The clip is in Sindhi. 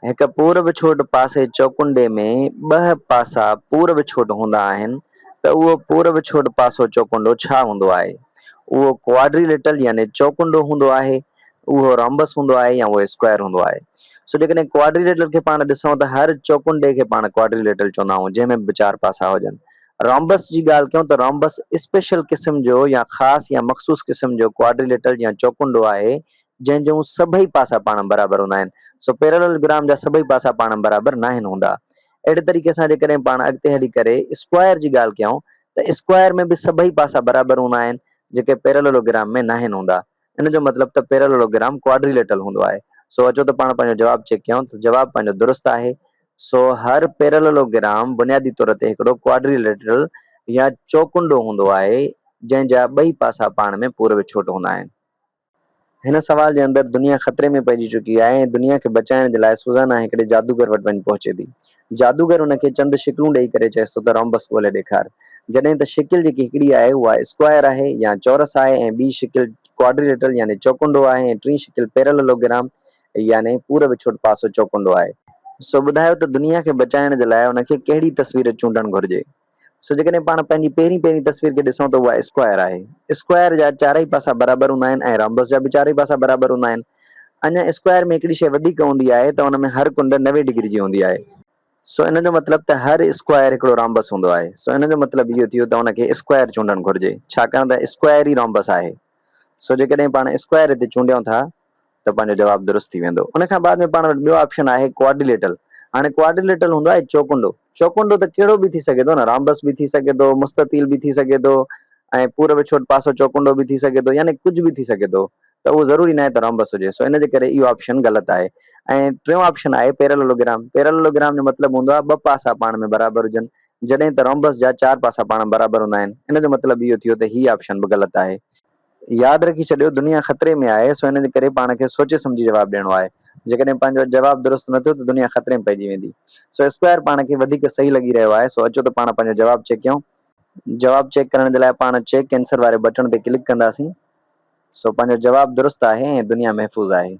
هڪ پورب ڇوٽ پاسي چوڪنڊي ۾ ٻه پاسا پورب ڇوٽ هوندا آهن ته اهو پورب ڇوٽ پاسو چوڪنڊو ڇا هوندو آهي؟ اهو ڪواڊريلٽل يعني چوڪنڊو هوندو آهي، اهو رامبس هوندو آهي يا اهو اسڪوائر هوندو آهي. سو جيڪڏهن ڪواڊريلٽل کي پاڻ ڏسون ته هر چوڪنڊي کي پاڻ ڪواڊريلٽل چوندا آهون جنهن ۾ به چار پاسا هجن. رامبس جي ڳالهه ڪيون ته رامبس اسپيشل قسم جو يا خاص يا مخصوص قسم جو ڪواڊريلٽل يا چوڪنڊو آهي جنهن جون سڀئي پاسا پاڻ برابر هوندا آهن، سو پيرالل گرام جا سڀئي پاسا پاڻ برابر ناهن هوندا. اهڙي طريقي سان جيڪڏهن پاڻ اڳتي هلي ڪري اسڪوائر جي ڳالهه ڪيائون ته اسڪوائر ۾ به سڀئي پاسا برابر هوندا آهن، جيڪي پيراللو گرام ۾ ناهن هوندا. ان جو مطلب ته پيراللو گرام ڪواڊريليٽرل هوندو آهي. سو اچو ته پاڻ پنهنجو جواب چيڪ ڪيائون ته جواب پنهنجو درست آهي. سو هر پيراللو گرام بنيادي طور تي هڪڙو ڪواڊريليٽرل يا چوڪنڊو هوندو آهي، جنهن جا ٻئي پاسا پاڻ ۾ پورو وڇوٽ هوندا آهن. هن سوال جي اندر دنيا خطري ۾ پئجي چڪي آهي ۽ دنيا کي بچائڻ جي لاء سوزانا هڪڙي جادوگر وٽ وڃي پهچي ٿي. جادوگر هن کي چند شڪلون ڏئي ڪري چئيس ٿو ته رامبس ڳولي ڏيکار. جڏهن ته شڪل جيڪي هڪڙي آهي اها اسڪوائر آهي يا چورس آهي ۽ ٻي شڪل ڪواڊريليٽرل يعني چوڪنڊو آهي ۽ ٽين شڪل پيرللوگرام يعني پوري وڇوٽ پاسو چوڪنڊو آهي. سو ٻڌايو ته دنيا کي بچائڻ جي لاء ان کي ڪهڙي تصوير چونڊڻ گهرجي. سو جيڪڏهن پاڻ پنهنجي پهرين پهرين تصوير کي ڏسون ته اها اسڪوائر آهي. اسڪوائر جا چارئي پاسا برابر هوندا آهن ۽ رامبس جا به چارئي پاسا برابر هوندا آهن. اڃا اسڪوائر ۾ هڪڙي شيء وڌيڪ هوندي آهي ته ان ۾ هر ڪنڊ نوي ڊگري جي هوندي آهي. سو ان جو مطلب ته هر اسڪوائر هڪڙو رامبس هوندو آهي. سو ان جو مطلب اهو ٿيو ته ان کي اسڪوائر چونڊڻ گهرجي، ڇاڪاڻ ته اسڪوائر ئي رامبس آهي. سو جيڪڏهن پاڻ اسڪوائر هتي چونڊيون ٿا ته پنهنجو جواب درست ٿي ويندو. ان کان بعد ۾ پاڻ وٽ ٻيو آپشن آهي ڪواڊريليٽرل. هاڻي ڪواڊريليٽرل هوندو آهي چوڪنڊو. چوڪنڊو ته ڪهڙو به ٿي سگهي ٿو نه، رامبس به ٿي سگهي ٿو، مستطيل به ٿي سگهي ٿو ۽ پورب ڇوٽ پاسو چوڪنڊو به ٿي سگهي ٿو يعني ڪجهه به ٿي سگهي ٿو ته اهو ضروري ناهي ته رامبس هجي سو ان جي ڪري اهو آپشن غلط آهي ۽ ٽيون آپشن آهي پيرللوگرام. پيرللوگرام جو مطلب هوندو آهي ٻه پاسا پاڻ ۾ برابر هجن جڏهن ته رامبس جا چار پاسا پاڻ ۾ برابر هوندا آهن. ان جو مطلب اهو ٿيو ته هي آپشن به غلط آهي. ياد رکي ڇڏيو دنيا خطري ۾ آهي سو ان جي ڪري پاڻ کي سوچي سمجهي جواب ڏيڻو آهي جيڪڏهن پنهنجو جواب درست نه ٿيو ته دنيا خطري ۾ پئجي ويندي سو اسڪوائر پاڻ کي وڌيڪ صحيح لڳي رهيو آهي سو اچو ته پاڻ پنهنجو جواب چيڪ ڪيون جواب چيڪ ڪرڻ جي لاء پاڻ چيڪ ڪينسر واري بٽڻ تي ڪلڪ ڪنداسين سو پنهنجو جواب درست آهي ۽ دنيا محفوظ آهي.